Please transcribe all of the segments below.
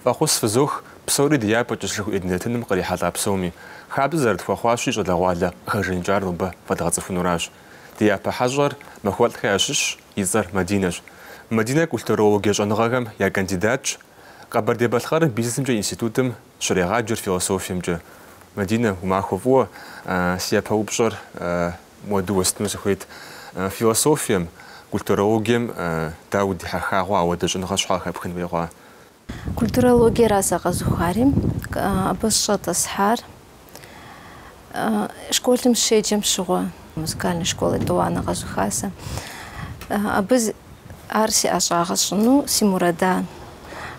Фӏэхъус фызох псори ди япэ къисхэу, ди нэтыным кърихьэлӏа псоми. Хабзэ зэрытхуэхъуащи, щӏалэгъуалэ къыхэжаныкӏар нобэ фӏэдгъэцӏыхунуращ. Ди япэ хьэщӏэр Махуэлӏхэ ящыщщ, и цӏэр Мадинэщ. Мадинэ культурологие щӏэныгъэхэм я кандидатщ, Къэбэрдей-Балъкъэрым бизнесымкӏэ институтым Щрегъаджэр философиемкӏэ. Мадинэ, уи махуэ фӏыуэ. Си япэ упщӏэр муэду уэстыну сыхуейт. Философием, культурологием дауэ удихьэха хъуа, апхуэдэ щӏэныгъэ щхьэ къыхэпхын хуей хъуа? Культурологиера сэ къэзухари, абы сыщӏэтӏысхьар. Школым сыщеджэм щыгъуэ музыкальнэ школ етӏуанэ къэзуха сэ. Абы ар си ӏэщӏагъэ щӏыну си мурадан.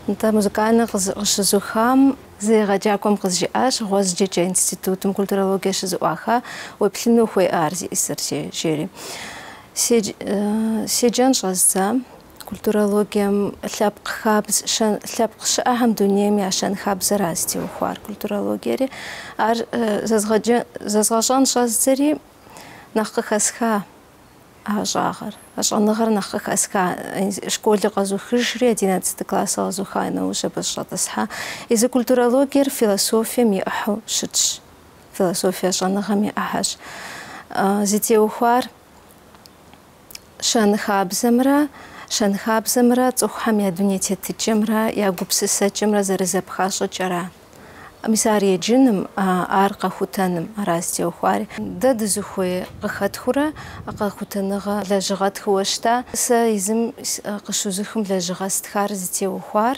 Нтӏэ музыкальнэ къыщызухам си егъэджакӏуэм къызжиӏащ, Гъуазджэкӏэ институтым культурологие щызэӏуаха, уеплъыну ухуей ар зиӏысыр, жери. Седжэн щӏэздза. Культурологием лъэпкъ хабз, щэн, лъэпкъ щыӏэхэм дунейм я щэнхабзэра зытеухуар культурологиери. Ар зэзгъэджэ, зэзгъэщӏэн щӏэздзэри нэхъ къыхэсха а ӏэщӏагъэр, а щӏэныгъэр нэхъ къыхэсха. Школыр къэзухыжри, одиннацэты классыр къэзуха нэужь абы сыщӏэтӏысхьа. Езы культурологиер философием и ӏыхьэу щытщ, философие щӏэныгъэм и ӏыхьэщ. Зытеухуар щэнхабзэмрэ щэнхабзэмрэ цӏыхухэм я дуней тетыкӏэмрэ я гупсысэкӏэмрэ зэрызэпха щӏыкӏэра. Мис ар еджыным, ар къэхутэным ара зытеухуари. Дэ дызыхуей къыхэтхыурэ къэхутэныгъэ лэжьыгъэ тхыуэ щыта? Сэ езым къыщызухым лэжьыгъэ стхар зытеухуар.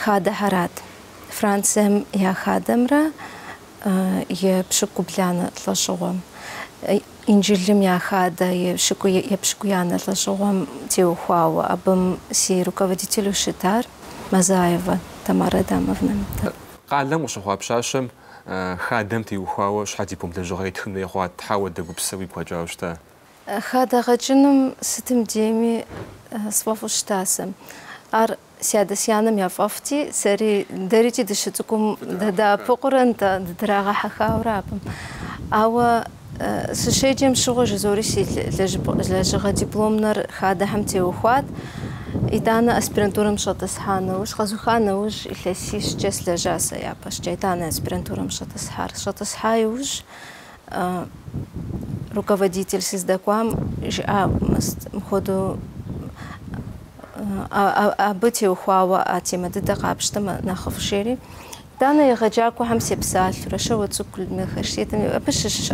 хадэхэрат, Францием я хадэмрэ епщыкӏубланэ лӏэщӏыгъуэм, Инджылым я хадэ епщыкӏуянэ лӏэщӏыгъуэм теухуауэ, абым си руководителу щытар Мазаевэ Тамарэ Адамовнэт. Къалэм къыщыхъуа пщащэм хадэм теухуауэ щхьэ диплом лэжьыгъэ итхын хуей хъуа, щхьэ апхуэдэ гупсысэ уигу къэкӏауэ щыта? Хадэгъэкӏыным сытым дейми сфӏэфӏу щыта сэ. Ар си адэ-си анэм яфӏэфӏти, сэри, дэрикӏи дыщыцӏыкӏум дадэӏэпыкъуурэ нтӏэ, дыдрагъэхьэхауэ ара абым. Ауэ сыщеджэм щыгъуэ жызори си лэжьыгъэ дипломнэр хадэхэм теухуат, итӏанэ аспирантурэм сыщӏэтӏысхьа нэужь, къэзуха нэужь илъэсищкӏэ сылэжьа сэ япэщӏыкӏэ, итӏанэ аспирантурэм сыщӏэтӏысхьар. Сыщӏэтӏысхьа иужь. руководитель сыздэкӏуам жиӏа мыхуэдэу абы теухуауэ а темэ дыдэ къапщтэмэ нэхъыфӏ жери. Данэ егъэджакӏуэхэм сепсалъурэ, Щауэцӏыкӏу Людмилэ Хьэжсетым абы щыщ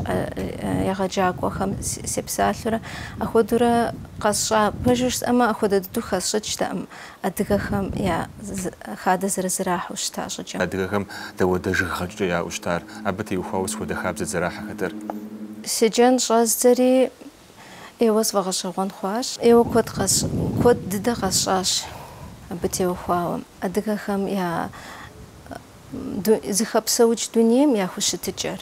егъэджакӏуэхэм сепсалъурэ, ахуэдурэ къэсщӏа пэжыр жысӏэмэ, ахуэдэ дыдэу хэсщӏыкӏтэкъым. Адыгэхэм я хадэ зэрызэрахьэу щыта щӏыкӏэм. Адыгэхэм дауэдэ жыг гъэкӏыкӏэ яӏэу щытар? Абы теухуауэ сыт хуэдэ хабзэт зэрахьэхэтэр? Седжэн щӏэздзэри ӏейуэ сфӏэгъэщӏэгъуэн хъуащ. ӏейуэ куэд къэс, куэд дыдэ къэсщӏащ абы теухуауэ. Адыгэхэм я зыхэпсэукӏ дунейм я хущытыкӏэр.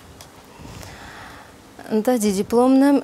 Нтӏэ, ди дипломнэм.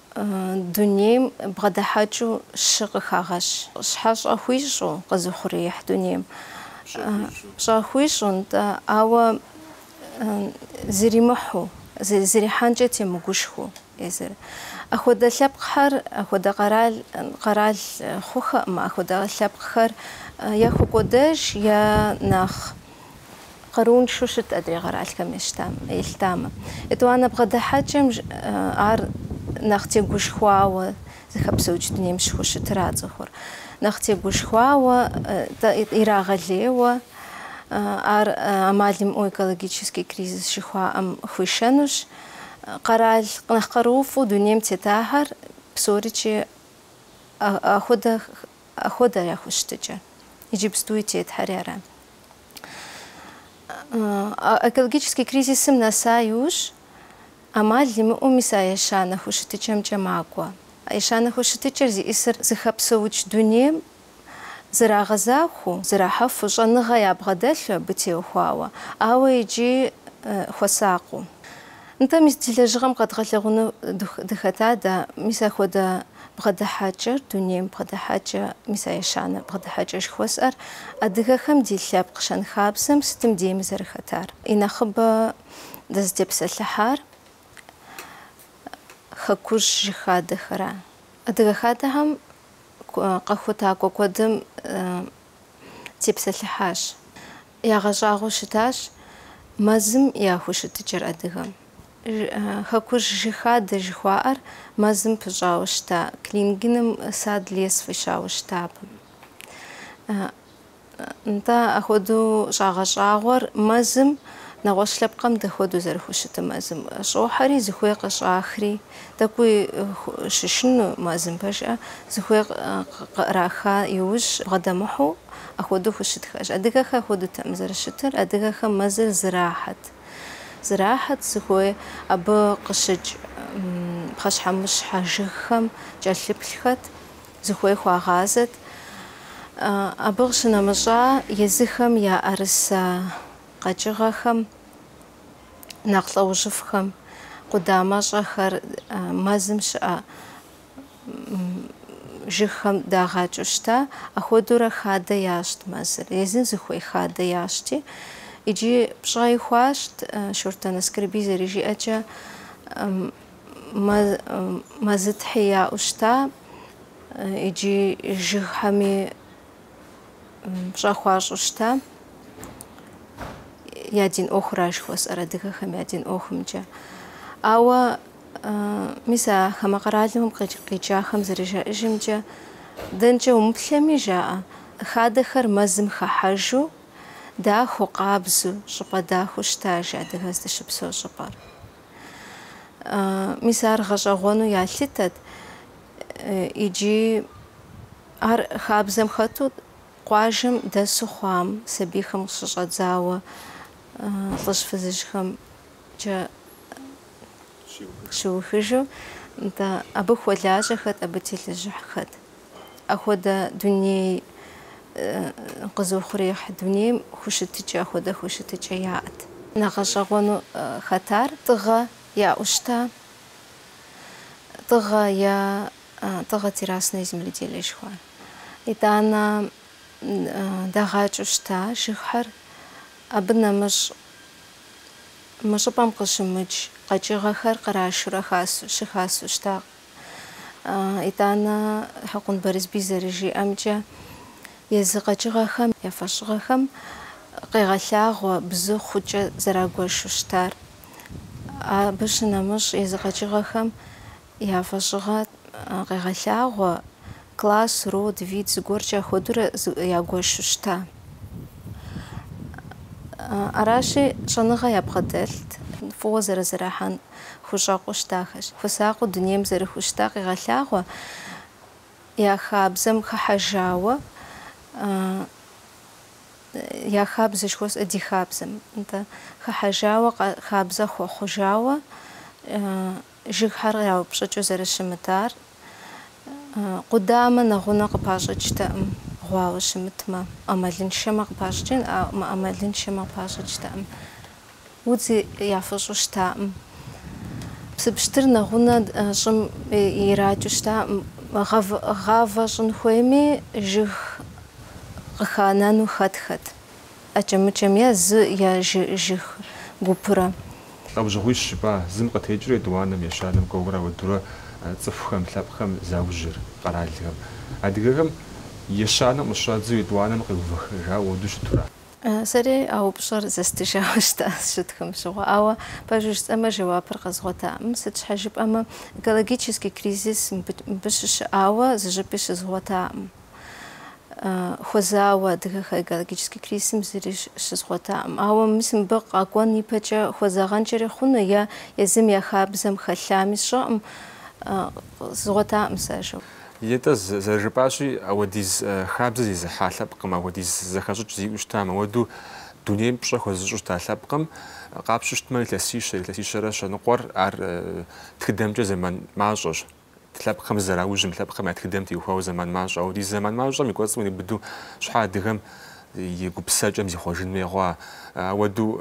Дунейм бгъэдыхьэкӏэу щы къыхагъэщ. Щхьэщэ хуищӏу къэзыухъуреихь дунейм? Пщӏэ хуищӏу, нтӏэ, ауэ зэримыхьэу, зэрихьэнкӏэ темыгушхыу. Езыр. Ахуэдэ лъэпкъхэр, ахуэдэ къэрал, къэрал хъухэкъым, ахуэдэ лъэпкъхэр е хэкӏуэдэж, е нэхъ. къарууншэу щыт адрей къэралхэм ещтам, елъытамэ. Етӏуанэ бгъэдыхьэкӏэм ар нэхъ тегушхуауэ зыхэпсэукӏ дунейм щыхущытыра цӏыхур. Нэхъ тегушхуауэ, ирагъэлейуэ ар амал имыӏэу экологический кризис жыхуаӏэм хуишэнущ. Къэрал нэхъ къарууфӏу дунейм тетахэр псоричи ахуэдэ Хуэдэ я хущытыкӏэ. Иджыпстуи тетхэри ара. Экологический кризисым нэса иужь, ӏэмал имыӏэу мис а ещанэ хущытыкӏэмкӏэ макӏуэ. А ещанэ хущытыкӏэр зиӏысыр зыхэпсэукӏ дунейм зэрагъэзахуэу, зэрахьэфу, щӏэныгъэ ябгъэдэлъу абы теухуауэ, ауэ иджы хуэсакъыу. Нтӏэ, мис ди лэжьыгъэм къэдгъэлъэгъуну дыхэта дэ? Мис ахуэдэ бгъэдыхьэкӏэр, дунейм бгъэдыхьэкӏэ, мис а ещанэ бгъэдыхьэкӏэ жыхуэсӏэр адыгэхэм ди лъэпкъ щэнхабзэм сытым дейми зэрыхэтар, и нэхъыбэ дэзытепсэлъыхьар хэкужь жыг хадэхэра? Адыгэ хадэхэм къэхутакӏуэ куэдым тепсэлъыхьащ. Ягъэщӏагъуэу щытащ мэзым я хущытыкӏэр адыгэм. Хэкужь жыг хадэ жыхуаӏэр мэзым пыщӏауэ щыта Клингеным сад-лес фӏищауэ щыта абы. Нтӏэ, ахуэдэу щӏагъэщӏагъуэр мэзым, нэгъуэщӏ лъэпкъхэм дапхуэдэу зэрыхущытым мэзым, щӏохьэри, зыхуей къыщӏахри. Тӏэкӏуи щышынэу мэзым пэжыжьэ зыхуей къыӏраха иужь бгъэдэмыхьу ахуэдэу хущытхэщ. Адыгэхэр ахуэдэутэкъым зэрыщытыр, адыгэхэм мэзыр зырахьэт. Зырахьэт зыхуей абы къыщыкӏ пхъэщхьэмыщхьэ жыгхэм кӏэлъыплъхэт, зыхуей хуагъазэт. Абы къыщынэмыщӏа езыхэм я ӏэрысэ къэкӏыгъэхэм нэхъ лӏэужьыфӏхэм къудамэщӏэхэр мэзым щыӏэ жыгхэм дагъэкӏыу щыта, ахуэдэурэ хадэ ящӏт мэзыр, езым зыхуей хадэ ящӏти. Иджы пщӏэи хуащӏт, Шортэн Аскэрбий зэрыжиӏэмкӏэ, мэзытхьи яӏэу щыта, иджы жыгхэми. пщӏэ хуащӏу щыта, я дин ӏуэхура жыхуэсӏэр, адыгэхэм я дин ӏуэхумкӏэ. Ауэ мис а хамэ къэралым къикӏахэм зэрыжаӏэжымкӏэ, дэнкӏэ умыплъэми жаӏэ, хадэхэр мэзым хэхьэжу, дахэу, къабзу, щӏыпӏэ дахэу щытаж адыгэр здыщыпсэу щӏыпӏэр. Мис ар гъэщӏэгъуэну ялъытэт иджы. Ар хабзэм хэту къуажэм дэсу хъуам, сабийхэм къыщыщӏэдзауэ лӏыжь фызыжьхэм кӏэ щиухыжу, нтӏэ, абы хуэлажьэхэт, абы телэжьыхьхэт. Ахуэдэ дуней къыдэзыухъуреихь дунейм хущытыкӏэ, ахуэдэ хущытыкӏэ яӏэт. Нэхъ гъэщӏэгъуэну хэтар тӏыгъэ яӏущта? Тӏыгъэ е. Тыгъэ террасное земледелие жыхуаӏэ. Итӏанэ дагъэкӏыу щыта жыгхэр. Абы нэмыщӏ мы щӏыпӏэм къыщымыкӏ къэкӏыгъэхэр кърашурэ хасу, щыхасу щыта. Итӏанэ Хьэкъун Барэсбий зэрыжиӏэмкӏэ, езы къэкӏыгъэхэм я фӏэщыгъэхэм къегъэлъагъуэ бзы хъукӏэ зэрагуэшу щытар. Абы щынэмыщӏ езы къэкӏыгъэхэм Я фӏэщыгъэ къегъэлъагъуэ, класс, род, вид зыгуэркӏэ ахуэдурэ ягуэшу щыта. Аращи, щӏэныгъэ ябгъэдэлът, фӏыуэ зэрызэрахьэн хущӏэкъуу щытахэщ. Хуэсакъыу дунейм зэрыхущыта къегъэлъагъуэ, я хабзэм хыхьэжауэ, я хабзэ жыхуэсӏэ, ди хабзэм, нтӏэ, хыхьэжауэ, хабзэ хуэхъужауэ, Жыгхэр къраупщӏыкӏыу зэрыщымытар къудамэ нэгъунэ къыпащӏыкӏтэкъым, гъуауэ щымытмэ, ӏэмалыншэмэ къыпащӏыкӏын, ауэ мыӏэмалыншэмэ къыпащӏыкӏтэкъым, удзи яфыщӏу щытакъым. Псыпщтыр нэгъунэ щӏым иракӏыу щытакъым, гъавэ щӏын хуейми, жыг къыханэну хэтхэт. ӏэкӏэмыкӏэм е зы я жы жыг гупырэ. Лӏэужьыгъуищ жыпӏа зым къытекӏри етӏуанэм ещанэм кӏуэурэ ауэдурэ цӏыхухэм, лъэпкъхэм заужьыр, къэралхэм. Адыгэхэм ещанэм къыщыщӏадзэу етӏуанэм къеувэхыжауэ ауэду щытура? Сэри а упщӏэр зэстыжауэ щыта сщытхым щыгъуэ, ауэ пэжу жысӏэмэ жэуапыр къэзгъуэтакъым, сыт щхьэ жыпӏэмэ экологический кризис мыбы щыщыӏауэ зыщӏыпӏи щызгъуэтакъым. хуэзауэ адыгэхэр экологическэ кризисым зыри щызгъуэтаӏым. Ауэ мис мыбы къакӏуэн ипэкӏэ хуэзагъэнкӏэри хъуну е езым я хабзэм хэлъами сщӏэкъым, къызгъуэтаӏым сэ ар жэуапу. Етӏэ, зэрыжыпӏащи, ауэдиз хабзэ зезыхьа лъэпкъым, ауэдиз зэхэщӏыкӏ зиӏэу щытам, ауэду дунейм пщӏэ хуэзыщӏу щыта лъэпкъым къапщту щытмэ илъэсищэ, илъэсищэрэ щэныкъуэр ар тхыдэмкӏэ зэман мащӏэщ. лъэпкъхэм зызэраужьым, лъэпкъхэм я тхыдэм теухуауэ зэман мащӏэ. Ауэдиз зэман мащӏэм и кӏуэцӏым ирибыду щхьэ адыгэм и гупсэкӏэм зихъуэжын хуей хъуа? Ауэду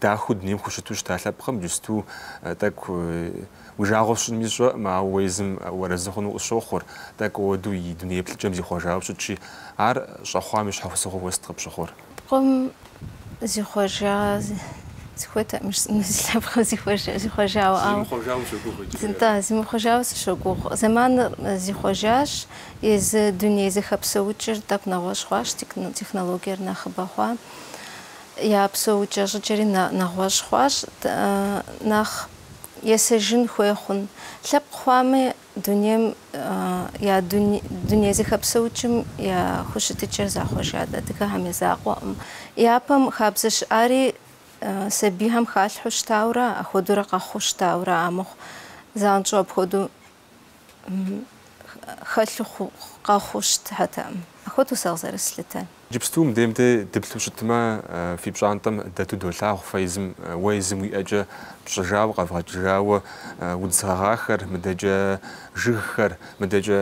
дахэу дунейм хущыту щыта лъэпкъым иджысту тӏэкӏу уи жагъуэ сщӏынми сщӏэкъым, ауэ уэ езым уарэзы хъуну къысщохъур, тӏэкӏу ауэду и дуней еплъыкӏэм зихъуэжауэ щытщи, ар щӏэхъуам и щхьэусыгъуэу уэ сыт къыпщыхъур. Лъэпкъым зихъуэжа сыхуейтэкъым си лъэпкъым зихъуэжа зихъуэжауэ ауэ зимыхъуэжауэ сыщогугъ иджы зы- да зимыхъуэжауэ сыщогугъ зэманыр э, зихъуэжащ езы дуней зэхэпсэукӏыр тӏэкӏу нэгъуэщӏ хъуащ техно- технологиер нэхъыбэ хъуа я псэукӏэ щӏыкӏэри нэ- нэгъуэщӏ хъуащ т- э, нэхъ есэжын хуей хъун лъэпкъ хъуами Дунейм я дуней зэхэпсэукӏым я хущытыкӏэр захъуэжат адыгэхэм я закъуэкъым. Япэм хабзэ щыӏари сабийхэм халъхьэу щытауэрэ, апхуэдэурэ къэхъуу щытауэрэ амыхъу, занщӏэу апхуэдэу хэлъу къэхъуу щытатэкъым. Апхуэдэу сэ къызэрыслъытэр. Иджыпсту мыдейм дэ дыплъу щытмэ, фи пщӏантӏэм дэту долъагъу фэ езым, уэ езым уи ӏэкӏэ пщӏыжауэ, къэвгъэкӏыжауэ удз гъэгъахэр, мыдэкӏэ жыгхэр, мыдэкӏэ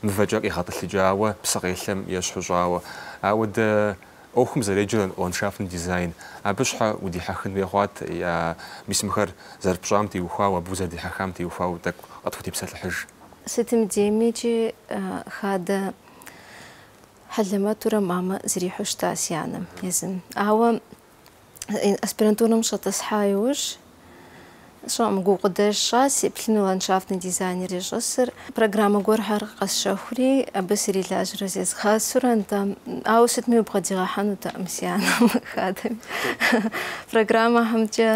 мывэкӏэ къегъэтӏылъэкӏауэ псыкъелъэм ещхьу щӏауэ. Ауэдэ ӏуэхум зэреджэр ландшафтный дизайн. Абы щхьэ удихьэхын хуей хъуат, е мис мыхэр зэрыпщӏам теухуауэ, абы узэрыдихьэхам теухуауэ тӏэкӏу къытхутепсэлъыхьыж. Сытым дейми икӏи хадэ. Хьэлэмэтурэ мамэ зрихьу щыта си анэм езым. Ауэ аспирантурэм щӏэтӏысхьа иужь, сщӏэкъым, гукъыдэж сщӏа, сеплъыну ландшафтный дизайнер зищӏысыр. Программэ гуэрхэр къэсщэхури, абы срилажьэрэ зезгъэсурэ, нтӏэ, ауэ сытми убгъэдигъэхьэнутэкъым си анэм хадэми. Программэхэмкӏэ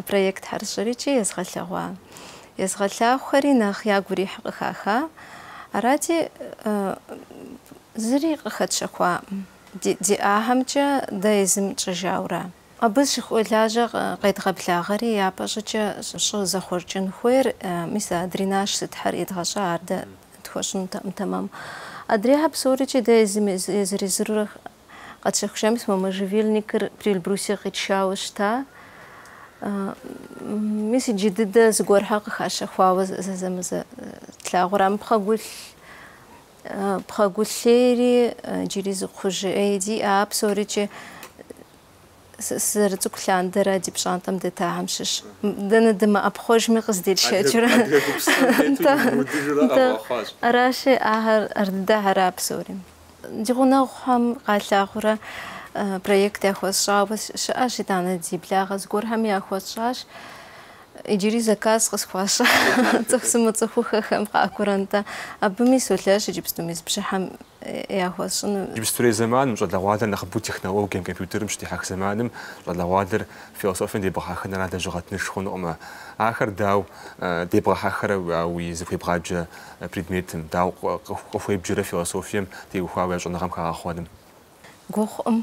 проектхэр сщӏыри икӏи езгъэлъэгъуа. Езгъэлъагъухэри нэхъ ягу ирихь къыхаха, арати, зыри къыхэтщэхуакъым, ди ӏэхэмкӏэ дэ езым тщӏыжаура? Абы щыхуэлажьэ къедгъэблагъэри япэ щӏыкӏэ щӏы зэхъуэкӏын хуейр, мис а дренаж сытхэр едгъэщӏа, ар дэ тхуэщӏынутэкъым тэмэму. Адрейхэр псорикӏи дэ езым езыр-езырурэ Къэтщэхуащ, мис мы можжевельникыр Приэльбрусье къитшауэ щыта. Мис иджы дыдэ зыгуэрхэр къыхащэхуауэ зэзэмызэ тлъагъурэ, мы пхъэгулъ пхъэгулъейри иджыри зы кхъужьей диӏэ, а псорикӏи Сызэрыцӏыкӏу лъандэрэ ди пщӏантӏэм дэтахэм щыщ. Дэнэ дымыӏэпхъуэжми къыздетшэкӏырэ. Адыгэ гупсысэм тету дымыудыжурэ къэвгъэхъуащ. Аращи, ахэр ар дыдэхэра псори. Ди гъунэгъухэм къалъагъурэ проект яхуэсщӏауэ щыӏэщ, итӏанэ ди благъэ зыгуэрхэми яхуэсщӏащ. Иджыри заказ къысхуащӏа цӏыху сымыцӏыхухэхэм къакӏуэурэ, нтӏэ. Абыми солэжь иджыпсту мис бжьыхьэм яхуэсщӏыну. Иджыпстурей зэманым щӏалэгъуалэр нэхъыбэу технологием, компьютерым щыдихьэх зэманым щӏалэгъуалэр философием дебгъэхьэхыныра лэжьыгъэ тынш хъунукъымэ. Ахэр дауэ дебгъэхьэхэрэ уи зыхуебгъаджэ предметым, дауэ къыхуебджэрэ философием теухуауэ я щӏэныгъэм хагъэхъуэным. Гугъукъым.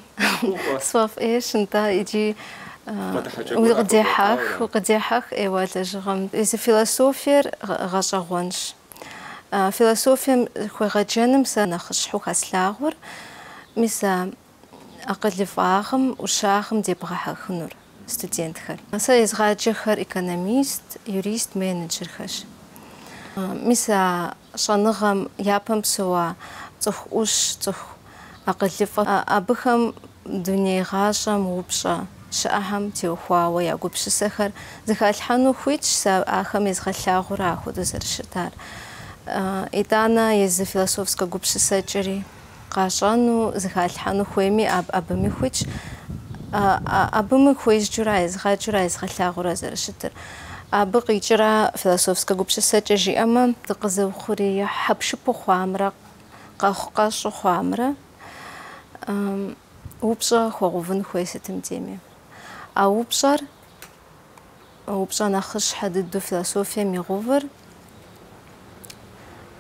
Сфӏэфӏ ӏейщ, нтӏэ, икӏи укъыдехьэх, укъыдехьэх ӏейуэ лэжьыгъэм. Езы философиер гъэщӏэгъуэнщ. Философием хуегъэджэным сэ нэхъыщхьэу хэслъагъур, мис а акъылыфӏагъым, ӏущагъым дебгъэхьэхынур. студентхэр. Сэ езгъаджэхэр экономист, юрист, менеджерхэщ. Мис а щӏэныгъэм япэм псэуа цӏыху ӏущ, цӏыху акъылыфӏэ, абыхэм дуней гъащӏэм упщӏэ щыӏэхэм теухуауэ я гупсысэхэр зыхалъхьэну хуитщ сэ ахэм езгъэлъагъуурэ ахуэдэу зэрыщытар. Итӏанэ езы философскэ гупсысэкӏэри. Къащӏэну, зыхалъхьэну хуейми аб, абыми хуитщ. А, а, абыми хуезджэурэ, езгъэджыурэ, езгъэлъагъуурэ зэрыщытыр. Абы къикӏыра философскэ гупсысэкӏэ жиӏэмэ, дыкъэзыухъуреихь хьэпшыпу хъуамрэ къэхъукъэщӏу хъуамрэ, упщӏэ хуэгъэувын хуей сытым дейми. А упщӏэр упщӏэ нэхъыщхьэ дыдэу философием игъэувыр.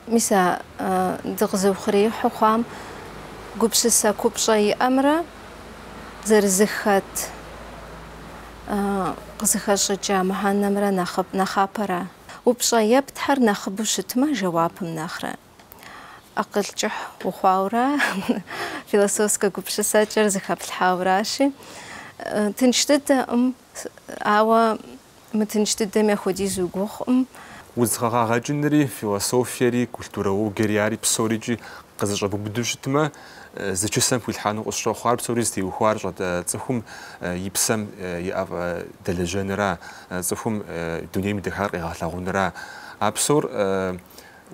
Мис а дыкъэзыухъуреихьу хъуам гупсысэ купщӏэ иӏэмрэ зэрызыхэт къызыхэщӏыкӏа мыхьэнэмрэ нэхъапэра? Упщӏэ ептхэр нэхъыбэу щытмэ, жэуапым нэхърэ. акъыл кӏыхь ухъуаура, философскэ гупсысэкӏэр зыхэплъхьауращи, тынш дыдэкъым, ауэ мытынш дыдэм яхуэдизу гугъукъым. Удз гъэгъа гъэкӏынри, философиери, культурологиери, ари псорикӏи къызэщӏэбубыду щытмэ, зы чысэм хуилъхьэну къысщохъу. Ар псори зытеухуар щӏэт цӏыхум и псэм и ӏэфӏ дэлэжьэнра, цӏыхум дунейм и дахагъэр къегъэлъагъунра. А псор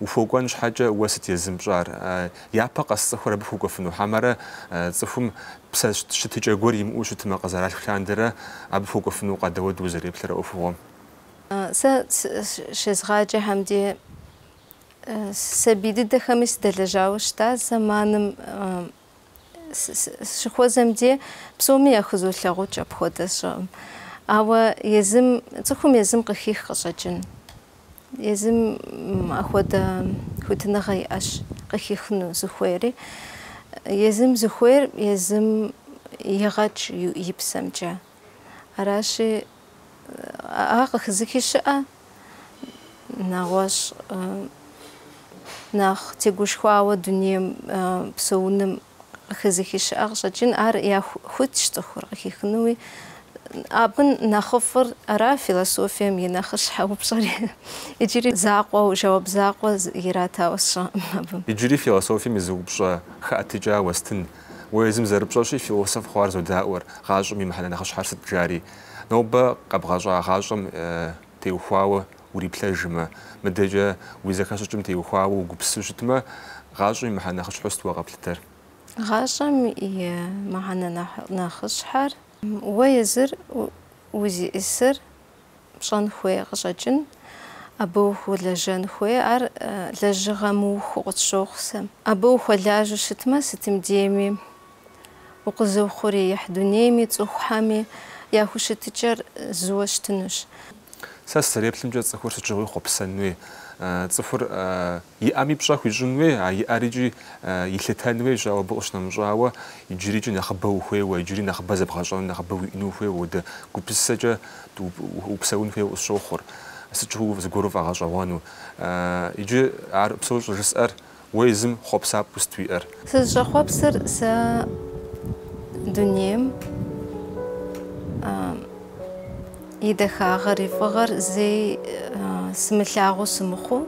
Ухуэкӏуэн щхьэкӏэ уэ сыт езым пщӏар? Япэ къэс цӏыхур абы хуэкӏуэфыну хьэмэрэ цӏыхум псэ щытыкӏэ гуэр имыӏэу щытмэ къызэралъху лъандэрэ абы хуэкӏуэфынукъэ, дауэдэу узэреплъыр а ӏуэхугъуэм? Сэ щезгъаджэхэм деи, сабий дыдэхэми сыдэлэжьауэ щыта зэманым. Сыщыхуэзэм де псоми яхузолъагъукӏ апхуэдэ щыӏэкъым. Ауэ езым, цӏыхум езым къыхих къыщӏэкӏын. Езым ахуэдэ хуитыныгъэ иӏэщ къыхихыну зыхуейри. Езым зыхуейр езым игъэкӏ и псэмкӏэ. Аращи, ар къыхэзыхи щыӏэ, нэгъуэщӏ нэхъ тегушхуауэ дунейм псэуным къыхэзыхи щыӏэ къыщӏэкӏын, ар хуитщ цӏыхур къыхихынуи. Абы нэхъыфӏыр ара философием и нэхъыщхьэ упщӏэри. Иджыри закъуэу, жэуап закъуэ иратауэ сщӏэкъым абы. Иджыри философием и зы упщӏэ хэӏэтыкӏа уэстын. Уэ езым зэрыпщӏэщи, философ хъуар зодауэр, гъащӏэм и мыхьэнэ нэхъыщхьэр сыт жари. Нобэ къэбгъэщӏа гъащӏэм теухуауэ уриплъэжмэ, мыдэкӏэ уи зэхэщӏыкӏым теухуауэ угупсысу щытмэ, гъащӏэм и мыхьэнэ нэхъыщхьэу сыт уэ къэплъытэр? Гъащӏэм и мыхьэнэ нэхъыщхьэр, уэ езыр узищӏысыр пщӏэн хуей къыщӏэкӏын, абы ухуэлэжьэн хуей, ар лэжьыгъэ мыухыу къысщохъу сэ. Абы ухуэлажьэу щытмэ, сытым дейми укъэзыухъуреихь дунейми, цӏыхухэми я хущытыкӏэр зыуэ щытынущ. Сэ сызэреплъымкӏэ, цӏыхур сыт щыгъуи хъуэпсэнуи, цӏыхур Иӏэми пщӏэ хуищӏын хуей, а иӏэр икӏи илъытэн хуейщ, ауэ абы къыщынэмыщӏауэ, иджырикӏи нэхъыбэ ухуейуэ, иджыри нэхъыбэ зэбгъэщӏэну, нэхъыбэ уиӏэну ухуейуэ, уэдэ гупсысэкӏэ упсэун хуейуэ къысщохъур, сыт щыгъуи зыгуэр уфӏэгъэщӏэгъуэну. Иджы ар псор щӏыжысӏэр, уэ езым хъуэпсапӏэу сыт уиӏэр? Сызыщӏэхъуэпсыр сэ дунейм и дахагъэр, и фӏыгъэр зэи сымылъагъуу сымыхъуу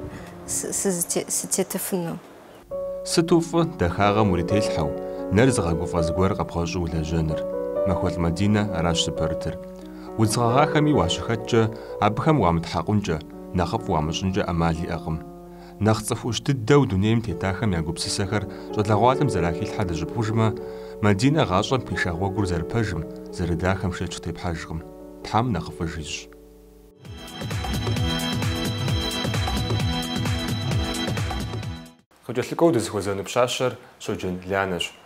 сытетыфыну. Сыту фӏы дахагъэм урителъхьэу, нэр зыгъэгуфӏэ зыгуэр къэбгъэщӏу улэжьэныр. Махуэлӏ Мадинэ аращ зыпэрытыр. Удз гъэгъахэми уащыхэткӏэ, абыхэм уамытхьэкъункӏэ, нэхъыфӏ уамыщӏынкӏэ ӏэмал иӏэкъым. Нэхъ цӏыху ӏущ дыдэу дунейм тетахэм я гупсысэхэр щӏалэгъуалэм зэрахилъхьэр дыщӏыбгъужмэ, Мадинэ гъащӏэм пхиша гъуэгур зэрыпэжым, зэрыдахэм шэч къытепхьэжкъым. Тхьэм нэхъыфӏыж ищӏ. Къыкӏэлъыкӏуэу дызыхуэзэну пщащэр Щоджэн Лянэщ.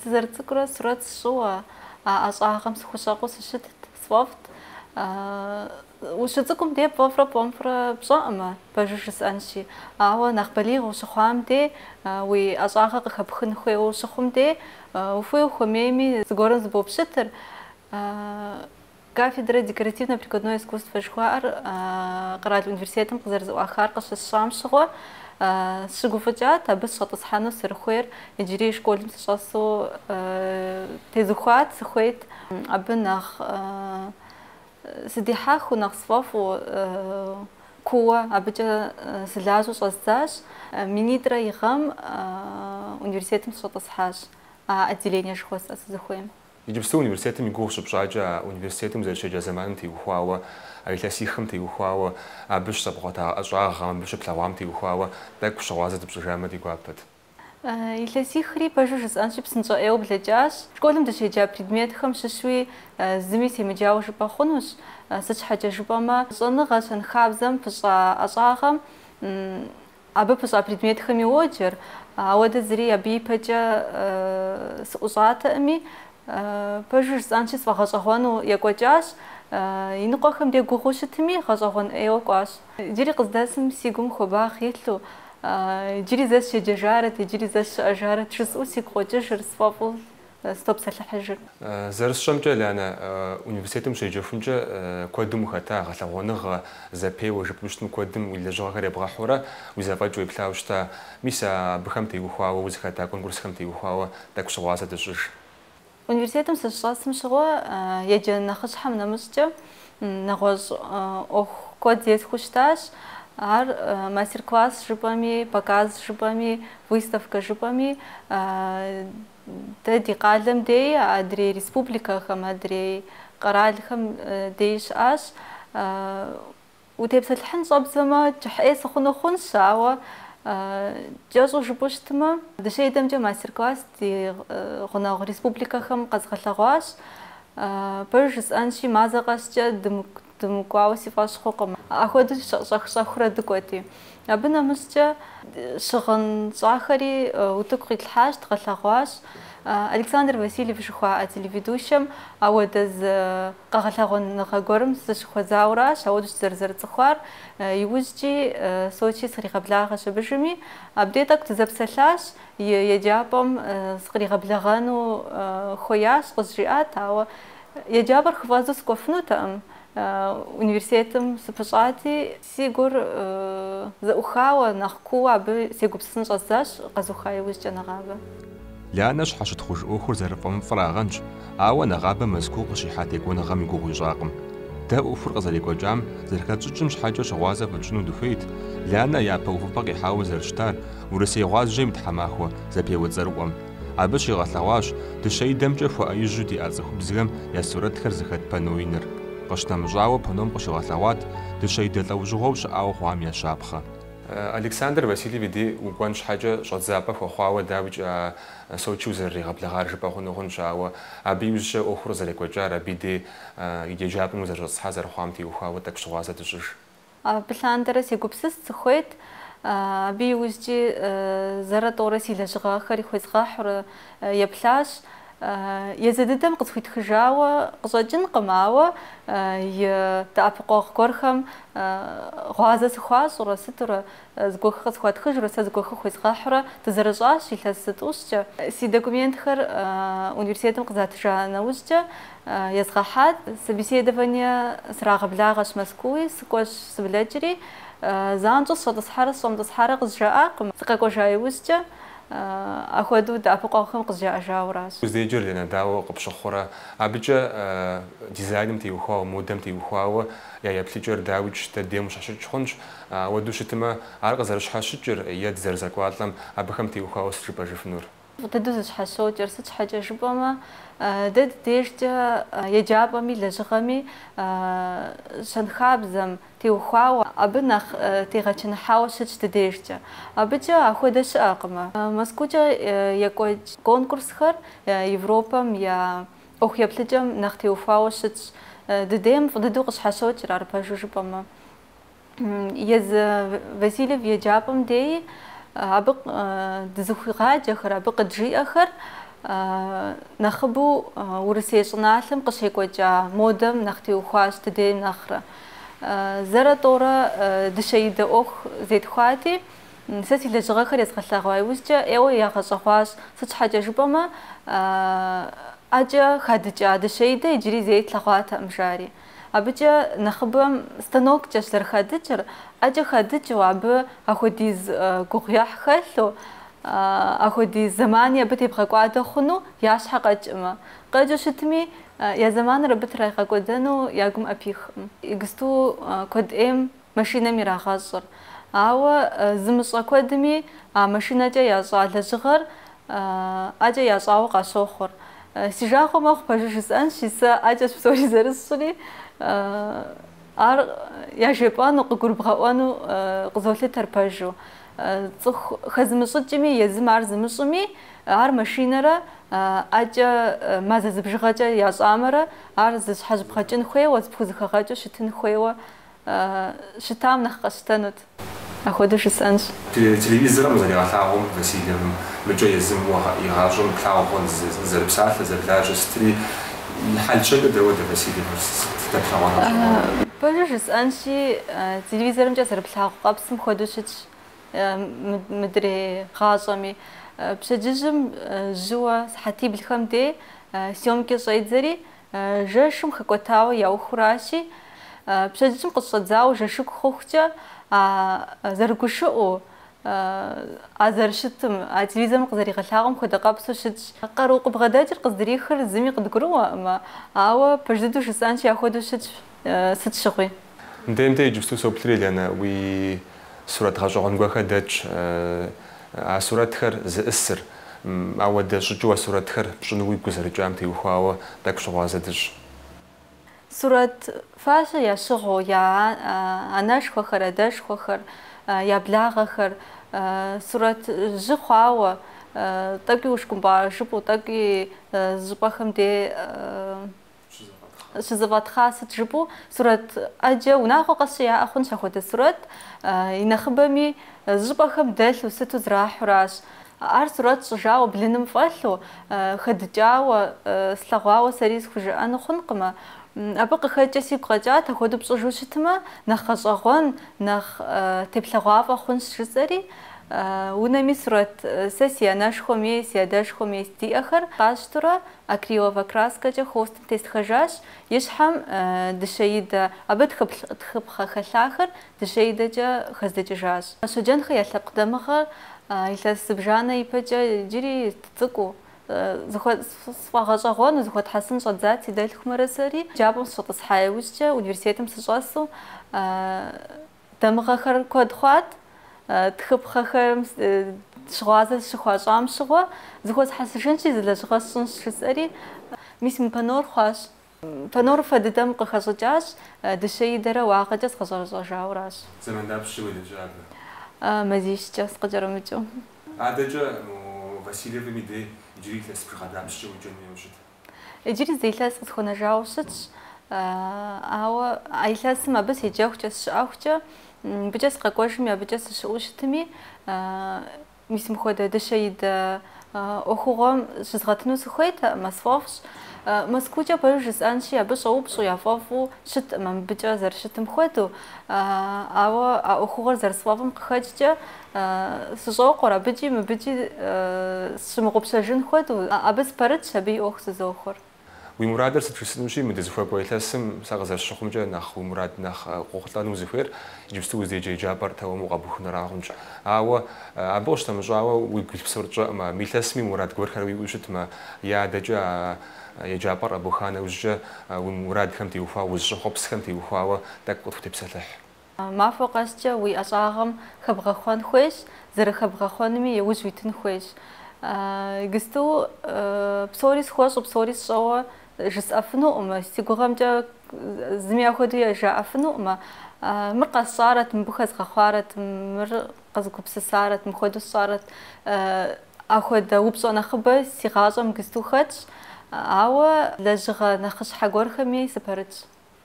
Сызэрыцӏыкӏурэ сурэт сщӏыуэ, а ӏэщӏагъэм сыхущӏэкъуу сыщытт, сфӏэфӏт. Ущыцӏыкӏум де пфӏэфӏрэ пфӏэмыфӏрэ пщӏэӏымэ, пэжыр жысӏэнщи. Ауэ нэхъ балигъ ущыхъуам де, уи ӏэщӏагъэ къыхэпхын хуейуэ ущыхъум де, ухуей-ухуэмейми, зыгуэрым зыбопщытыр. Кафедрэ декоративно-прикладное искусство жыхуаӏэр къэрал университетым къызэрызэӏуахар къыщысщӏам щыгъуэ сщыгуфӏыкӏат абы сщӏэтӏысхьэну сырыхуейр, иджыри школым сыщӏэсу тезухуат, сыхуейт абы нэхъ сыдихьэхыу, нэхъ сфӏэфӏу кууэ абыкӏэ сылажьэу щӏэздзащ. Минитӏрэ и гъэм университетым сыщӏэтӏысхьащ а отделение жыхуэсӏэ сызыхуейм. Иджыпсту университетым и гугъу щыпщӏакӏэ, а университетым зэрыщеджа зэманым теухуауэ, а илъэсихым теухуауэ, абы щызэбгъэгъуэта ӏэщӏагъэм, абы щыплъэгъуам теухуауэ тӏэкӏу щыгъуазэ дыпщӏыжамэ ди гуапэт. Илъэсихри пэжу жысӏэнщи, псынщӏэ ӏейуэ блэкӏащ. Школым дыщеджа предметхэм щыщуи зыми семыджауэ жыпӏэ хъунущ, сыт щхьэкӏэ жыпӏэмэ, щӏэныгъэ щэнхабзэм пыщӏа ӏэщӏагъэм Абы пыщӏа предметхэм йоджэр, ауэ дэ зыри абы ипэкӏэ сыӏущӏатэӏыми, пэжу жысӏэнщи сфӏэгъэщӏэгъуэну екӏуэкӏащ. Иныкъуэхэм де гугъуу щытми, гъэщӏэгъуэн ӏейуэ кӏуащ. Иджыри къыздэсым си гум хуабагъэ илъу, иджыри зэ сщеджэжарэт, иджыри зэ сщыӏэжарэт жысӏэу сигу къокӏыжыр, сфӏэфӏу сытопсэлъыхьыжыр. Зэрысщӏэмкӏэ, Лянэ, университетым ущеджэхункӏэ куэдым ухэта, гъэлъэгъуэныгъэ, зэпеуэ, жыпӏэм щытым куэдым уи лэжьыгъэхэр ебгъэхьурэ, уи зэфӏэкӏ уеплъауэ щыта. Мис а абыхэм теухуауэ, узыхэта конкурсхэм теухуауэ тӏэкӏу щыгъуазэ дыщӏыж. Университетым сыщыщӏэсым щыгъуэ еджэн нэхъыщхьэм нэмыщӏкӏэ нэгъуэщӏ ӏуэху куэд зесхуэу щытащ. Ар мастер-класс жыпӏэми, показ жыпӏэми, выставкэ жыпӏэми Дэ ди къалэм деи, адрей республикэхэм, адрей къэралхэм деи щыӏащ. Утепсэлъыхьын щӏэбдзэмэ, кӏыхьӏей сыхъуну хъунщ, ауэ кӏэщӏу жыпӏэу щытмэ, дыщэидэмкӏэ мастер-класс ди гъунэгъу республикэхэм къэзыгъэлъэгъуащ. Пэж жысӏэнщи, мазэ къэскӏэ Дымыкӏуауэ си фӏэщ хъукъым. Ахуэдэу щӏэх-щӏэхыурэ дыкӏуэти. Абы нэмыщӏкӏэ щыгъын щӏахэри утыку къитлъхьащ, дгъэлъэгъуащ. Александр Васильев жыхуаӏэ телеведущэм ауэдэ зы къэгъэлъэгъуэныгъэ гуэрым сыщыхуэзауращ, ауэдэущ дызэрызэрыцӏыхуар. Иужькӏи Сочи сыкъригъэблагъэщ абы жыми, абдей тӏэкӏу дызэпсэлъащ, еджапӏэм сыкъригъэблэгъэну хуеящ, къызжиӏат, ауэ Еджапӏэр хыфӏэздзэу сыкӏуэфынутэкъым, университетым сыпыщӏати, си гур зэӏухауэ, нэхъ кууэ абы сегупсысын щӏэздзащ, къэзуха иужькӏэ нэгъабэ. Лианэ щхьэщытхъуж ӏуэхур зэрыфӏэмыфӏырагъэнщ, ауэ нэгъабэ Мэзкуу къыщихьа текӏуэныгъэм и гугъу ищӏакъым. Дэ ӏуэхур къызэрекӏуэкӏам зэрыхэтщӏыкӏым щхьэкӏэ щыгъуазэ фытщӏыну дыхуейт, Лианэ япэ увыпӏэ къихьауэ зэрыщытар Урысей гъуазджэм и тхьэмахуэ зэпеуэ цӏэрыӏуэм. Абы щигъэлъэгъуащ дыщэидэмкӏэ хуэӏэижьу диӏа цӏыхубзхэм я сурэтхэр зыхэт панно иныр. Къыщынэмыщӏауэ, панном къыщигъэлъэгъуат дыщэидэ лӏэужьыгъуэу щыӏауэ хъуам я щапхъэ. Александр Васильев и дей укӏуэн щхьэкӏэ щӏэдзапӏэ хуэхъуауэ, дауикӏ, а Сочи узэрыригъэблэгъар жыпӏэ хъуну хъунщ, ауэ абы иужькӏэ ӏуэхур къызэрекӏуэкӏар, абы дей и еджапӏэм узэрыщӏэтӏысхьа зэрыхъуам теухуауэ тӏэкӏу щыгъуазэ дыщӏыж. Абы лъандэрэ сегупсыст, сыхуейт, абы иужькӏи зэрэ тӏорэ си лэжьыгъэхэр ихуезгъэхьурэ еплъащ. Езы дыдэм къысхуитхыжауэ къыщӏэкӏынкъым, ауэ и дэӏэпыкъуэгъу гуэрхэм гъуазэ сыхуащӏурэ сытурэ Зыгуэхы къысхуатхыжурэ сэ зыгуэхы хуезгъэхьурэ дызэрыщӏащ илъэс зы тӏущкӏэ. Си документхэр университетым къызатыжа нэужькӏэ езгъэхьат. Собеседование срагъэблагъэщ Мэзкууи, сыкӏуэщ сыблэкӏри, занщӏэу сыщӏэтӏысхьэрэ сыщӏэмытӏысхьэрэ къызжаӏакъым. Сыкъэкӏуэжа иужькӏэ ахуэдэу дэӏэпыкъуэгъухэм къызжаӏэжауращ. Уздэеджэр, Лианэ, дауэ къыпщыхъурэ? Абыкӏэ дизайным теухуауэ, модэм теухуауэ я еплъыкӏэр дауикӏ дыдейм къыщхьэщыкӏ хъунщ. Ауэдэу щытымэ, ар къызэрыщхьэщыкӏыр е дызэрызэкӏуалӏэм абыхэм теухуауэ сыт жыпӏэжыфынур? Фӏы дыдэу зэщхьэщокӏыр, сыт щхьэкӏэ жыпӏэмэ, дэ ди дежкӏэ еджапӏэми лэжьыгъэми щэнхабзэм теухуауэ абы нэхъ тегъэчыныхьауэ щытщ ди дежкӏэ. Абыкӏэ ахуэдэ щыӏэкъымэ. Мэзкуукӏэ екӏуэкӏ конкурсхэр Европэм я ӏуэху еплъыкӏэм нэхъ теухуауэ щытщ. Дыдейм фӏы дыдэу къыщхьэщокӏыр, ар пэжу жыпӏэмэ. езы Васильев еджапӏэм деи абы дызыхуигъаджэхэр, абы къыджиӏэхэр нэхъыбэу Урысей щӏыналъэм къыщекӏуэкӏа модэм нэхъ теухуащ дыдейм нэхърэ. Зэрэ тӏорэ дыщэидэ ӏуэху зетхуати, сэ си лэжьыгъэхэр езгъэлъэгъуа иужькӏэ ӏейуэ ягъэщӏэгъуащ, сыт щхьэкӏэ жыпӏэмэ ӏэкӏэ хадыкӏа дыщэидэ иджыри зэи тлъэгъуатэкъым, жари. Абыкӏэ нэхъыбэм станоккӏэщ зэрыхадыкӏыр, ӏэкӏэ хадыкӏыу, абы ахуэдиз гугъуехь хэлъу, ахуэдиз зэмани абы тебгъэкӏуадэ хъуну я щхьэ къэкӏкъымэ. Къэкӏыу щытми, я зэманыр абы трагъэкӏуэдэну я гум ӏэпихкъым. Иджыпсту куэд ӏейм Машинэм ирагъэщӏыр. Ауэ зымыщӏэ куэдми а машинэкӏэ ящӏа лэжьыгъэр ӏэкӏэ ящӏауэ къащохъур. Си жагъуэ мэхъу пэжу жысӏэнщи, сэ ӏэкӏэщ псори зэрысщӏри, ар яжепӏэну, къыгурыбгъэӏуэну къызолъытэр пэжу. Цӏыху хэзымыщӏыкӏми, езым ар зымыщӏми, ар машинэрэ ӏэкӏэ мазэ зыбжыгъэкӏэ ящӏамэрэ ар зэщхьэщыбгъэкӏын хуейуэ, зыпхузэхэгъэкӏыу щытын хуейуэ щытам нэхъ къэсщтэнут. Апхуэдэу жысӏэнщ. Телевизорым къызэригъэлъагъуэм Васильевым мыкӏэ езым уэ игъащӏэм плъагъуэ зэрыпсалъэ, зэрылажьэ сытри, и хьэл-щэнкӏэ дауэдэ Васильевым сыт дэплъэгъуэну къыщӏыгъуэнур? Пэжу жысӏэнщи, телевизорымкӏэ зэрыплъагъу къэпсым хуэдэу щытщ мыдрей гъащӏэми. Пщэдджыжьым жьыуэ сыхьэтиблхэм дей съёмкэ щӏедзэри, Жэщым хэкӏуэтауэ яухыуращи, пщэдджыжьым къыщӏэдзауэ жэщыку хъухукӏэ, а зэрыгушыӏэу, а зэрыщытым, а телевизорым къызэригъэлъагъуэм хуэдэ къэпсу щытщ. Къару къыбгъэдэкӏыр къыздырихыр зыми къыдгурыӏуэкъымэ, ауэ пэж дыдэу жысӏэнщи ахуэдэу щытщ, сыт щыгъуи. Нтенте иджыпсту соплъри, Ланэ, уи сурэт гъэщӏэгъуэн гуэхэр дэтщ. А сурэтхэр зиӏысыр, дауэдэ щӏыкӏэу а сурэтхэр пщӏыну уигу къызэрыкӏам теухуауэ тӏэкӏу щыгъуазэ дыщӏ. Сурэт фащэ ящыгъыу я анэшхуэхэр, адэшхуэхэр, я благъэхэр сурэт жьы хъуауэ, тӏэкӏуи ушкӏумпӏа жыпӏэу, тӏэкӏуи зыщӏыпӏэхэм де щызэфӏэтхъа, сыт жыпӏэу сурэт ӏэджэ унагъуэ къэс щыяӏэ хъунщ апхуэдэ сурэт. И нэхъыбэми зыщӏыпӏэхэм дэлъу сыту зэрахьуращ. Ар сурэт щӏыжауэ блыным фӏэлъу, хэдыкӏауэ, слъэгъуауэ сэри схужыӏэну хъункъымэ. Абы къыхэкӏкӏэ сигу къэкӏат, апхуэдэу пщӏыжу щытмэ, нэхъ гъэщӏэгъуэн, нэхъ теплъэгъуафӏэ хъунщ жысӏэри. Унэми сурэт сэ си анэшхуэм ей, си адэшхуэм ей сыт диӏэхэр къасщтэурэ, Акриловэ краскэкӏэ холстым тестхэжащ и щхьэм дыщэидэ, абы тхыпхъэ хэлъахэр дыщэидэкӏэ хэздыкӏыжащ. Щоджэнхэ я лъэпкъ дамыгъэр илъэс зыбжанэ ипэкӏэ иджыри цӏыкӏуу, сфӏэгъэщӏэгъуэну, зыхуэтхьэсын щӏэддзат си дэлъхумрэ сэри. Еджапӏэм сыщӏэтӏысхьа иужькӏэ, университетым сыщӏэсу, Дамыгъэхэр куэд хъуат, тхыпхъэхэм щыгъуазэ сыщыхуащӏам щыгъуэ, зыхуэсхьэсыжынщи, зы лэжьыгъэ сщӏынщ, жысӏэри, мис мы панор хъуащ. Панор фэ дыдэм къыхэщӏыкӏащ, дыщэидэрэ уагъэкӏэ згъэщӏэрэщӏэжауращ. Зэман дапщкӏэ уелэжьа абы? Мазищкӏэ, сыкъыкӏэрымыкӏыу. Адэкӏэ Васильевым и дей иджыри илъэс бжыгъэ дапщкӏэ уеджэну ущыт? Иджыри зы илъэс къысхуэнэжауэ щытщ, ауэ а илъэсым абы седжэхукӏэ сщыӏэхукӏэ, мыбыкӏэ сыкъэкӏуэжми абыкӏэ сыщыӏэу щытми, мис мыхуэдэ дыщэидэ ӏуэхугъуэм щызгъэтыну сыхуейтэкъымэ, сфӏэфӏщ. Мэзкуукӏэ пэжу жысӏэнщи, абы щӏэупщӏу яфӏэфӏу щыткъымэ мыбыкӏэ зэрыщытым хуэдэу, ауэ а ӏуэхугъуэр зэрысфӏэфӏым къыхэкӏкӏэ, Сыщӏокъур, абыкӏи мыбыкӏи сщымыгъупщэжын хуэдэу, абы спэрытщ, абы и ӏуэху зызохуэр. Уи мурадыр сыт жысӏэнущи, мы дызыхуэкӏуэ илъэсым сэ къызэрысщыхъумкӏэ нэхъ уи мурад нэхъ къохъулӏэну узыхуейр иджыпсту узыдеджэ еджапӏэр тэмэму къэбухынура хъунщ. Ауэ абы къыщынэмыщӏауэ уигу илъ псор тщӏэкъымэ, мы илъэсми мурад гуэрхэр уиӏэу щытмэ, е адэкӏэ а еджапӏэр къэбуха нэужькӏэ уи мурадхэм теухуауэ, узыщӏэхъуэпсхэм теухуауэ тӏэкӏу къытхутепсэлъыхь. Махуэ къэскӏэ уи ӏэщӏагъэм хэбгъэхъуэн хуейщ, зэрыхэбгъэхъуэнуми иужь уитын хуейщ. Гысту псори схуэщӏу, псори сщӏэуэ жысӏэфынукъымэ, си гугъэмкӏэ зыми ахуэду жаӏэфынукъымэ. Мыр къэсщӏарэт, мыбы хэзгъэхъуарэт, мыр къэзгупсысарэт, мыхуэду сщӏарэт. Ахуэдэ упщӏэ нэхъыбэ си гъащӏэм гысту хэтщ, ауэ лэжьыгъэ нэхъыщхьэ гуэрхэми сыпэрытщ.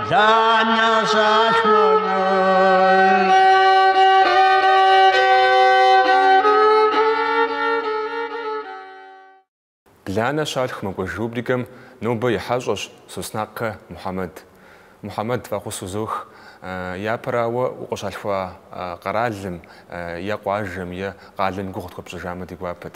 Бланэ щалъху мэкӏуэж рубрикэм нобэ и хьэщӏэщ Соснакъэ Мухьэмэд. Мухьэмэд, фӏэхъус узох. Япэрауэ, укъыщалъхуа къэралым е къуажэм е къалэм гугъу тхуэпщӏыжамэ ди гуапэт.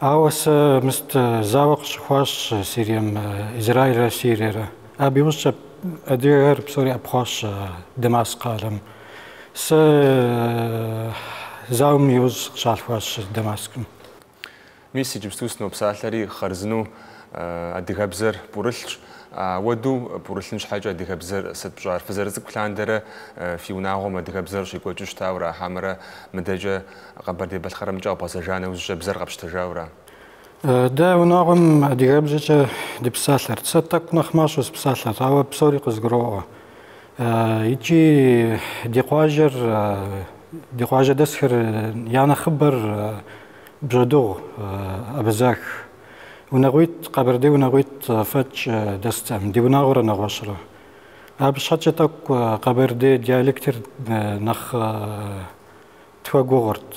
Ауэ сэ мыст зауэ къыщыхъуащ Сирием, Израилрэ Сириерэ. Абы иужькӏэ адыгэхэр псори ӏэпхъуащ Дамаск къалэм. Сэ зауэм иужь сыкъыщалъхуащ Дамаскым. Мис иджыпсту сынопсалъэри, хъарзынэу адыгэбзэр пӏурылъщ. Апхуэдэу пӏурылъын щхьэкӏэ адыгэбзэр сыт пщӏар? Фызэрыцӏыкӏу лъандэрэ фи унагъуэм адыгэбзэр щекӏуэкӏыу щытауэ ара хьэмэрэ мыдэкӏэ Къэбэрдей-Балъкъэрымкӏэ къэбгъэзэжа нэужькӏэ бзэр къэпщтэжаура? Дэ унагъуэм адыгэбзэкӏэ дыпсалъэрт. Сэ тӏэкӏу нэхъ мащӏэ сыпсалъэрт, ауэ псори къызгуроӏуэ. Икӏи ди къуажэр, ди къуажэдэсхэр я нэхъыбэр бжьэдыгъу, абазэх. Унагъуитӏ, къэбэрдей унагъуитӏ фӏэкӏ дэстэкъым, ди унагъуэрэ нэгъуэщӏрэ. Абы щхьэкӏэ тӏэкӏу къэбэрдей диалектыр нэхъ тхуэгугъырт.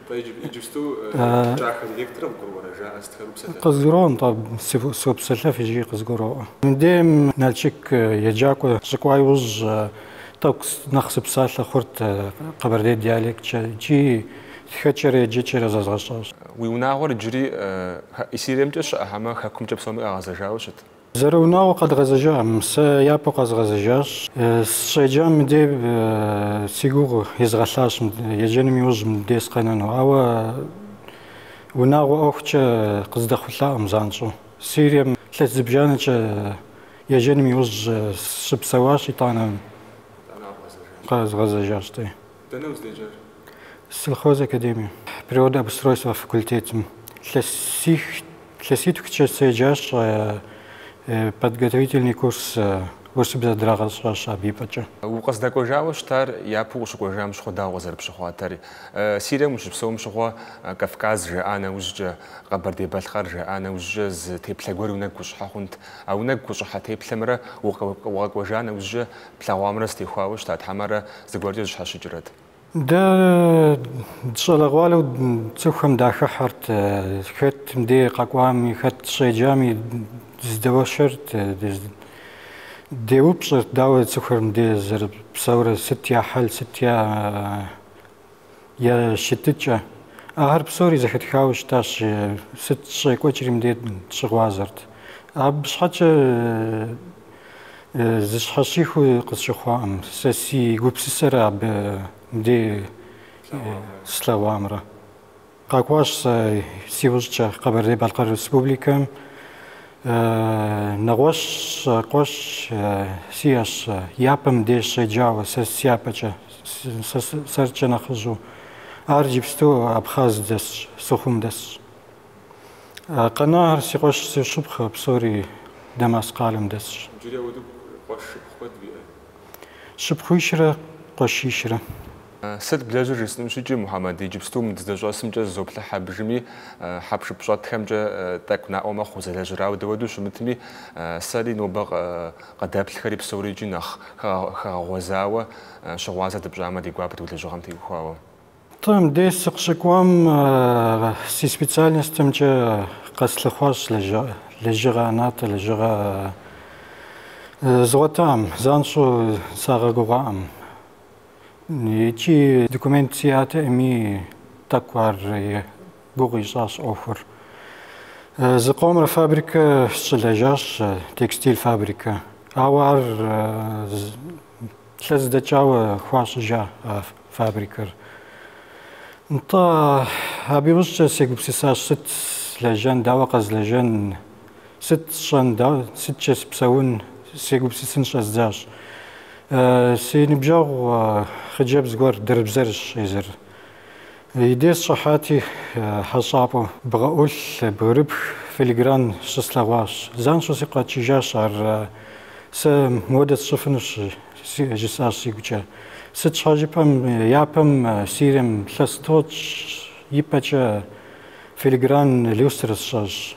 Нтӏэ, иджыпсту кӏахэ диалектыр къыбгуроӏуэрэ, жаӏэ сытхэр упсэлъэф? Къызгуроӏуэ, нтӏэ, сопсэлъэф икӏи къызгуроӏуэ. Мыбдеж Налшык еджакӏуэ сыщыкӏуа иужь, тӏэкӏу нэхъ сыпсалъэ хъурт къэбэрдей диалекткӏэ икӏи тхэкӏэрэ еджэкӏэрэ зэзгъэщӏащ. Уи унагъуэр иджыри Сириемкӏэ щыӏэ хьэмэ хэкумкӏэ псоми къагъэзэжауэ щыт? Зэрыунагъуэу къэдгъэзэжакъым, сэ япэу къэзгъэзэжащ. Сыщеджам мыдей си гугъу изгъэлъащ еджэным иужь мыдей сыкъэнэну, ауэ унагъуэ ӏуэхукӏэ къыздэхъулӏакъым занщӏэу. Сирием илъэс зыбжанэкӏэ еджэным иужь сыщыпсэуащ, итӏанэ къэзгъэзэжащ, тӏэ. Дэнэ уздеджар? Сельхоз академие, природообустройство факультетым. Илъэситхукӏэ седжащ, подготовительный курс урысыбзэ драгъэщӏащ абы ипэкӏэ. Укъыздэкӏуэжауэ щытар япэу укъыщыкӏуэжам щыгъуэ дауэ къызэрыпщыхъуатэр? Сирием ущыпсэум щыгъуэ Кавказ жаӏа нэужькӏэ, Къэбэрдей-Балъкъэр жаӏа нэужькӏэ зы теплъэ гуэр уи нэгу къыщӏыхьэ хъунт. А уи нэгу къыщӏыхьэ теплъэмрэ укъэкӏуэжа нэужькӏэ Плъэгъуамрэ зэтехуауэ щыта хьэмэрэ зыгуэркӏэ зэщхьэщыкӏрэт? Дэ дыщӏалэгъуалэу цӏыхухэм дахыхьэрт, хэт мыдей къэкӏуами, хэт щеджами дызэдэуэршэрт, деупщӏэрт, дауэ цӏыхухэр мыдей зэрыпсэурэ, сыт я хьэл, сыт я я щытыкӏэ. Ахэр псори зэхэтхауэ щытащ, сыт щекӏуэкӏри мыдей дыщыгъуазэрт. Абы щхьэкӏэ зэщхьэщыхуу къысщыхъуакъым, сэ си гупсысэрэ абы мыдей слъэгъуамрэ. Къэкӏуащ сэ си ужькӏэ Къэбэрдей-Балъкъэр Республикэм. Нэгъуэщӏ къуэш сиӏэщ, япэ мыбдеж щеджауэ, сэ сяпэкӏэ, сэркӏэ нэхъыжьу. Ар иджыпсту Абхъаз дэсщ, Сухум дэсщ. Къэнар си къуэш си шыпхъу, псори Дамаск къалэм дэсщ. Иджыри ауэдэу къуэш шыпхъу куэд уиӏэ? Шыпхъуищрэ къуэшищрэ. Сыт блэжьыр жысӏэнущ икӏи, Мухьэмэд, иджыпстум дыздэщӏэсымкӏэ зызоплъыхь абдежми, хьэпшып щӏэтхэмкӏэ тӏэкӏу наӏуэ мэхъу узэлэжьыр, ауэ дауэду щымытми, сэри нобэ къыдэплъхэри псори икӏи нэхъ хэгъэгъуэзауэ щыгъуазэ дыпщӏамэ ди гуапэт уи лэжьыгъэм теухуауэ. Нтӏэ, мыдэ сыкъыщыкӏуам си специальностымкӏэ къэслъыхъуащ лэжьыгъэ ӏэнатӏэ, лэжьыгъэ згъуэтаӏым занщӏэу, сагъэгугъаӏым. Икӏи документ сиӏатэӏыми, тӏэкӏу ар гугъу ищӏащ ӏуэхур. Зыкъомрэ фабрикэ сыщылэжьащ, текстиль фабрикэ. Ауэ ар илъэс дэкӏауэ хуащӏыжа а фабрикэр. Нтӏэ, абы иужькӏэ сегупсысащ, сыт злэжьын, дауэ къэзлэжьын, Сыт сщӏэн, да, сыткӏэ сыпсэун, сегупсысын щӏэздзащ. Си ныбжьэгъу хъыджэбз гуэр дэрбзэрщ езыр. И деж сыщӏыхьати, хьэщӏапӏэу бгъэӏулъ, бгырыпх, филигран щыслъэгъуащ. Занщӏэу сигу къэкӏыжащ ар. Сэ мыуэдэ сщӏыфынущ, жысӏащ сигукӏэ. Сыт щхьэ жыпӏэмэ, япэм Сирием илъэс тӏощӏ ипэкӏэ филигран люстрэ сщӏащ.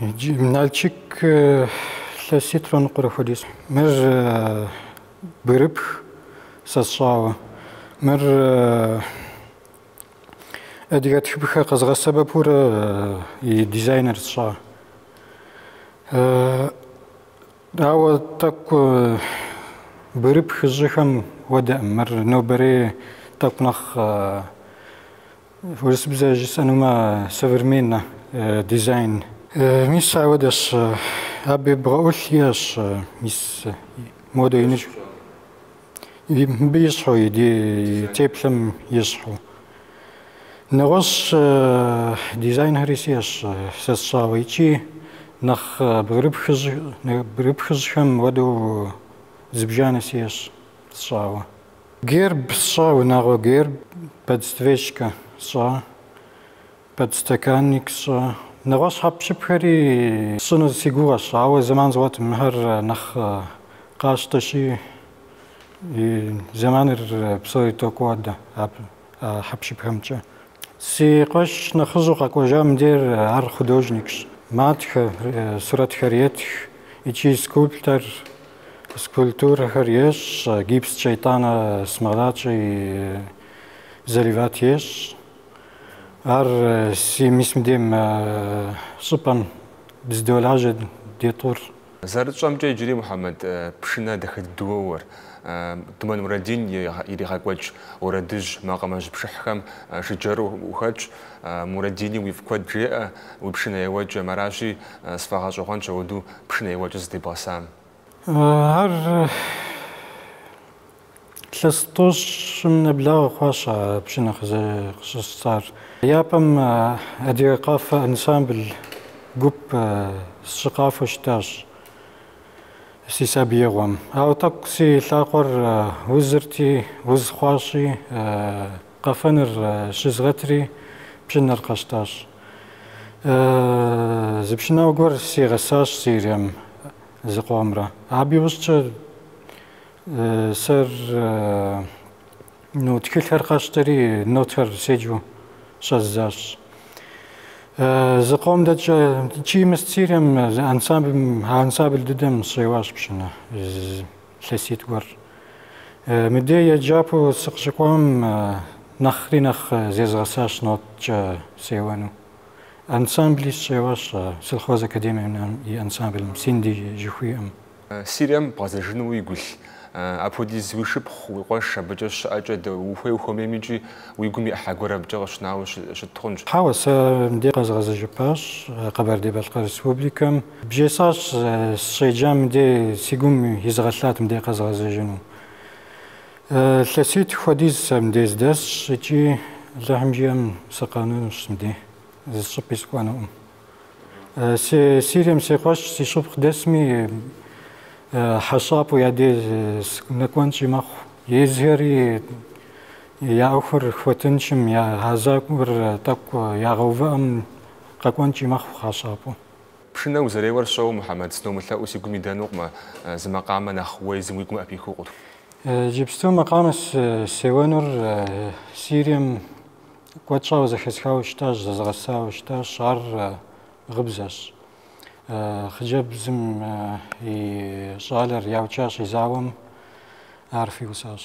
Иджы Налчик илъэситӏрэ ныкъуэрэ хуэдиз. Мыр бгырыпх сэ сщӏауэ. Мыр адыгэ тхыпхъэ къэзгъэсэбэпурэ и дизайныр сщӏа. Ауэ тӏэкӏу бгырыпхыжьхэм уэдэӏым. Мыр нобэрей тӏэкӏу нэхъ Урысыбзэ жысӏэнумэ современнэ дизайн. Мис ауэдэщ. Абы и бгъэӏулъ иӏэщ. Мис модэ иныщ. Мыбы ещхьу и теплъэм ещхьу. Нэгъуэщӏ дизайнхэри сиӏэщ сэ сщӏауэ икӏи нэхъ бгырыпхыжьхэм уэдэу зыбжанэ сиӏэщ сщӏауэ. Герб сщӏа, унагъуэ герб, подсвечка сщӏа, подстаканник сщӏа. Нэгъуэщӏ хьэпшыпхэри сщӏыну си гугъэщ, ауэ зэман згъуэтӏым, мыхэр нэхъ къащтэщи, си зэманыр псори токӏуадэ а хьэпшыпхэмкӏэ. Си къуэш нэхъыжьу къэкӏуэжа мыбдейр ар художникщ. Матхэ, сурэтхэр етх икӏи скульптор, скульптурэхэр ещӏ, гипскӏэ итӏанэ смолакӏэ и заливат ещӏ. Аращи мис мыбдейм щӏыпӏэм дыздолажьэ ди тӏур. Зэрытщӏэмкӏэ, иджыри Мухьэмэд пшынэ дахэ дыдэу уоуэр, Думэн Мурадин иригъэкӏуэкӏ уэрэдыжь макъамэжь пшыхьхэм жыджэру ухэтщ, Мурадини уифӏ куэд жеӏэ, уи пшынэ еуэкӏэм, аращи, сфӏэгъэщӏэгъуэнщ ауэду пшынэ еуэкӏэ зыдебгъэсам. Ар Лъэс тӏощӏым нэблагъэ хъуащ а пшынэ къыщысщтар. Япэм Адыгэ къафэ ансамбль гуп сщыкъафэу щытащ си сабиигъуэм. Ауэ тӏэкӏу си лъакъуэр узырти, уз хъуащи, къафэныр щызгъэтри, пшынэр къэсщтащ. Зы пшынауэ гуэр сигъэсащ Сирием зыкъомрэ. Абы иужькӏэ Сэру тхылъхэр къэсщтэри нотэр седжу щӏэздзащ. Зыкъом дэкӏа икӏи мис Сирием ансамбль ансамбль дыдэм сыщеуащ пшынэ лъэситӏ гуэр. Мыдэ еджапӏэ сыкъыщыкӏуам нэхъри нэхъ зезгъэсащ ноткӏэ сеуэну. Ансамбли сыщеуащ Сельхоз академием и ансамблым Синди жыхуиӏэм. Сирием бгъэзэжыну уигу илъ? Апхуэдиз уи шыпхъу, уи къуэш абыкӏэ щыӏэкӏэ уэ ухуей ухуэмейм икӏи уи гум и ӏыхьэ гуэр абыкӏэ къыщынауэ щыт хъунщ. Хьэуэ, сэ мыбдей къэзгъэзэжыпащ Къэбэрдей-Балъкъэр Республикэм. Бжесӏащ сыщеджам мыбдей, си гум изыгъэлъат мыбдей къэзгъэзэжыну. Лъэситӏ хуэдиз сэ мыбдей сыдэсщ икӏи Алыхьым жиӏэм сыкъэнэнущ мыбдей, зыщӏыпӏи сыкӏуэнукъым. Сэ Сирием си къуэш, си шыпхъу дэсми хьэщӏапӏэу я деж нэкӏуэнкӏи мэхъу. Езхэри я ӏуэхур хуэтыншым, я гъэзакӏуэр тӏэкӏу ягъэувыӏэм къэкӏуэнкӏи мэхъу хьэщӏапӏэу. Пшынэ узэреуэр сщӏэуэ, Мухьэмэд, сыномылъэӏуу си гум идэнукъым, зы макъамэ нэхъ уэ езым уи гум ӏэпихыу къытху. Иджыпсту макъамэ сеуэнур Сирием Куэд щӏауэ зэхэсхауэ щытащ, зэзыгъэсауэ щытащ, ар гъыбзэщ. Хъыджэбзым и щӏалэр яукӏащ и зауэм, ар фиусащ.